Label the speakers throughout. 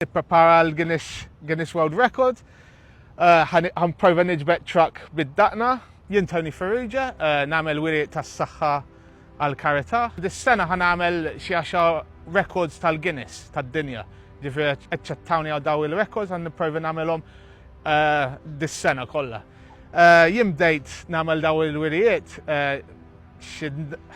Speaker 1: Ipprepara għal Guinness, Guinness World Record. Għan prova nġbet truck bid-daqna. Jien Tony Ferrugia, eh, namel wiri tas-saħħa għal karita. Dis-sena għan għamel xiexa records tal-Guinness tad-dinja. Ġifri eċċettawni għal daw il-records għan niprovi namelom eh, dis-sena kollha. Eh, jien bdejt namel daw il-wirijiet xi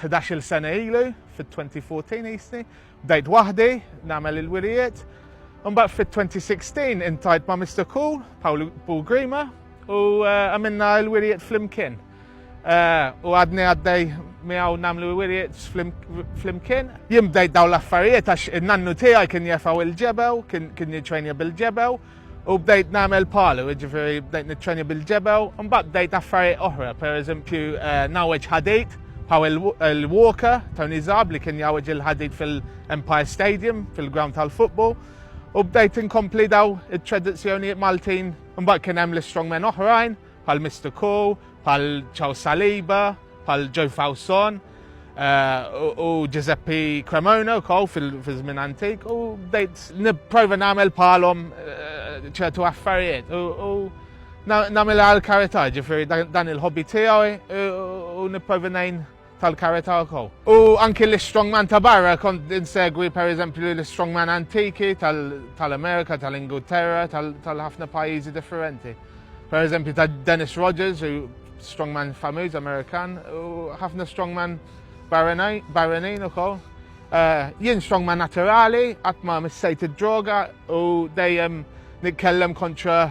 Speaker 1: 11 sena ilu fit-2014 jisni. Bdejt waħdi nagħmel il-wirijiet, imbagħad fit-2016 intajt ma' Mister Cool, Paul Paul Grima, u eh, għamilna l-wirijiet flimkien. Eh, u għadni għaddej miegħu nagħmlu l-wirijiet flimkien. Jien bdejt dawn l-affarijiet għax in-nannu tiegħi kien jefaw il-ġebew, kien jiġrejni bil-ġebew, U bdejt nagħmel palu, jiġifieri bdejt niċċenja bil-ġebew, imbagħad bdejt affarijiet oħra, pereżempju eh, nawweġ ħadejt bħaw il-Walker Tony Zab li kien jawweġ il-ħadid fil-Empire Stadium fil-ground tal-futbol u bdejt inkompli daw it-tradizzjonijiet Maltin imbagħad kien hemm l-strongmen oħrajn bħal Mister Kho, bħal Charles Saliba, bħal Joe Fawson eh, u Giuseppe Cremona wkoll fil-żmien antik u bdejt nipprova nagħmel bħalhom eh, ċertu affarijiet u nagħmel għal karità ġifieri dan il-hobby tiegħi u nipprova ngħin tal-karità wkoll. U anki l-istrongman ta' barra kont insegwi pereżempju l-istrongman antiki tal-Amerika, tal-Ingilterra, tal-ħafna pajjiżi differenti. Pereżempju ta' Dennis Rogers, strongman famiż Amerikan, u ħafna strongman barranin ukoll. Eh, jien strongman naturali, qatt ma missejt id-droga u dejjem nitkellem kontra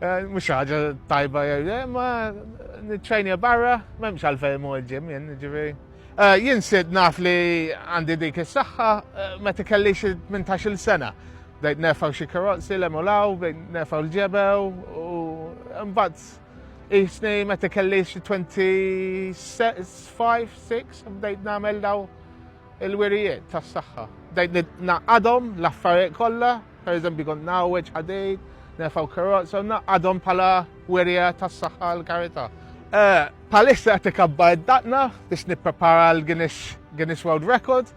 Speaker 1: Eh, mhux ħaġa tajba jew le, ma niċċajnija barra, m'hemmx għalfejn mu ġim jien, ġifieri. Eh, jien sid naf li għandi dik is-saħħa eh, meta kellix 18-il sena. Bdejt nefaw xi karozzi l emulaw, bdejt nefaw l-ġebew u mbagħad isni meta kellix 25, 6 bdejt nagħmel daw Il-wirijiet tas-saħħa. Dejt naqadhom l-affarijiet kollha, pereżempju kont nawweġ ħadejt, nerfgħu karozza u naqadhom bħala wirja tas-saħħa għal karità. Eh, palissa qed ikabba id-daqna biex nipprepara l-Guinness World Record.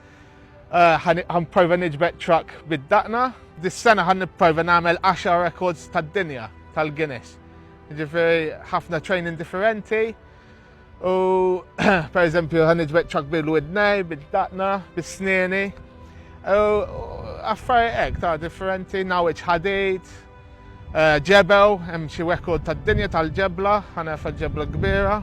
Speaker 1: Għan eh, prova niġbed truck bid-daqna. Dis-sena għan nipprova nagħmel 10 records tad-dinja tal-Guinness. Ġifieri ħafna training differenti. U per eżempju għan iġbeċċak bil-widnej, bil-daqna, bil-sneni. Affari ek ta' differenti, nawiċ ħadejt, eh, ġebew, hemm xi rekord tad-dinja tal-ġebla, ħana ġebla kbira.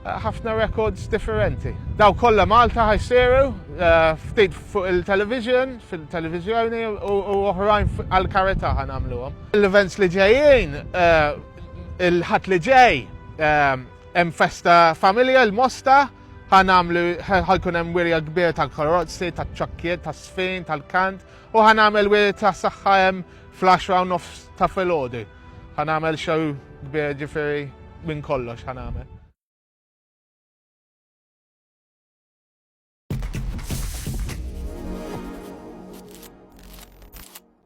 Speaker 1: Eh, ħafna rekords differenti. Daw kollha Malta ħajsiru eh, ftit fuq il-television, fil-televizjoni u oħrajn għal-kareta ħanamluhom. L-events li ġejjin Il-Ħadd li ġej hemm festa familja l-Mosta ħanamlu ħajkun hemm wirja kbir tal-karozzi, taċ-ċokkiet, tas-sfin, tal-kant u ħanamel wirja ta' saħħa hemm fl-10 u nofs ta' filgħodu. Ħanamel xew kbir ġifieri minn kollox ħanamel.